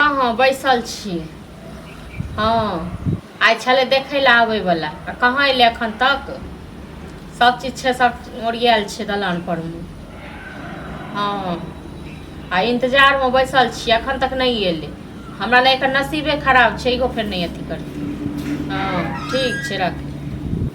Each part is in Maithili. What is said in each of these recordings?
हँ हँ बैसल छी हँ आइ छलै देखै लए आबैवला आ कहाँ अयलै एखन तक सब चीज छै सब ओरियाल छै दलान पर मे हँ आ इन्तजारमे बैसल छी एखन तक नहि अयलै हमरा नहि एकर नसीबे खराब छै इहो फेर नहि अथी करतै हँ ठीक छै राखू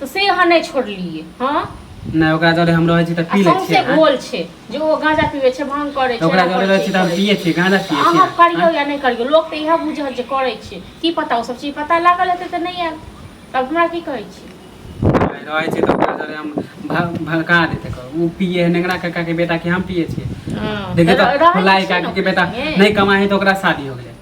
तऽ से अहाँ नहि छोड़लियै हँ नहि ओकरा जरे हम रहै छी तऽ पी लै छियै से गोल छै जे ओ गांजा पीबै छै भांग करै छै ओकरा जरे रहै छी तऽ हम पियै छियै गांजा पियै छियै अहाँ करियौ या नहि करियौ लोक तऽ इएह बुझल जे करै छै की पता ओ सब चीज पता लागल हेतै तऽ नहि आयल तब हमरा की कहै छी रहै छै तऽ ओकरा जरे हम भड़का देते ओ पिए है नेंगरा काका के बेटा के हम पिए छियै हँ, देखिए तो फुलाई काकी के बेटा नहीं कमाए है तो ओकरा शादी हो गया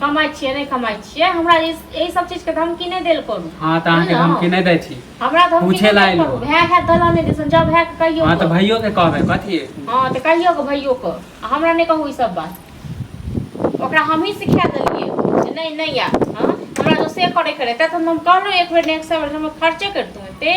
कमाइ छियै नहि कमाइ छियै हमरा एहि सब चीज के धमकी नहि देल करू हां त अहाँ के धमकी नहि दै छी हमरा धमकी पूछे ला आइल हो भाय है दलाने दिसन जब है के कहियो हां त भाइयो के कहबे कथि हां त कहियो के भाइयो के हमरा नहि कहू ई सब बात ओकरा हम ही सिखा देलिए जे नहीं नहीं आ हां हमरा जो से करे करे त हम कहलो एक बेर नेक्स्ट बेर हम खर्चे करतू ते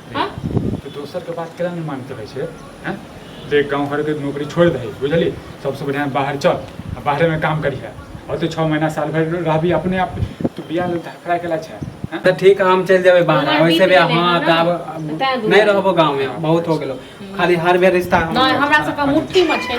हँ तऽ दोसरके बात केना नहि मानैत रहै छै हँ जे गाँव घरके नौकरी छोड़ि दही बुझली सबसँ बढ़िआँ बाहर चल आ बाहरेमे काम करिहे ओतऽ छओ महीना साल भरि रहबी अपने आप तू बियाह लेल धड़फड़ा केला छै हँ? तऽ ठीक है हम चलि जेबै बाहर उमर वैसे भी बीत गेलै हँ हँ तऽ ने। आब तैं दूर नहि रहबो गाँवमे बहुत हो गेलो खाली हर बेर रिश्ता हम- नहि हमरा सबके मुट्ठी मे छै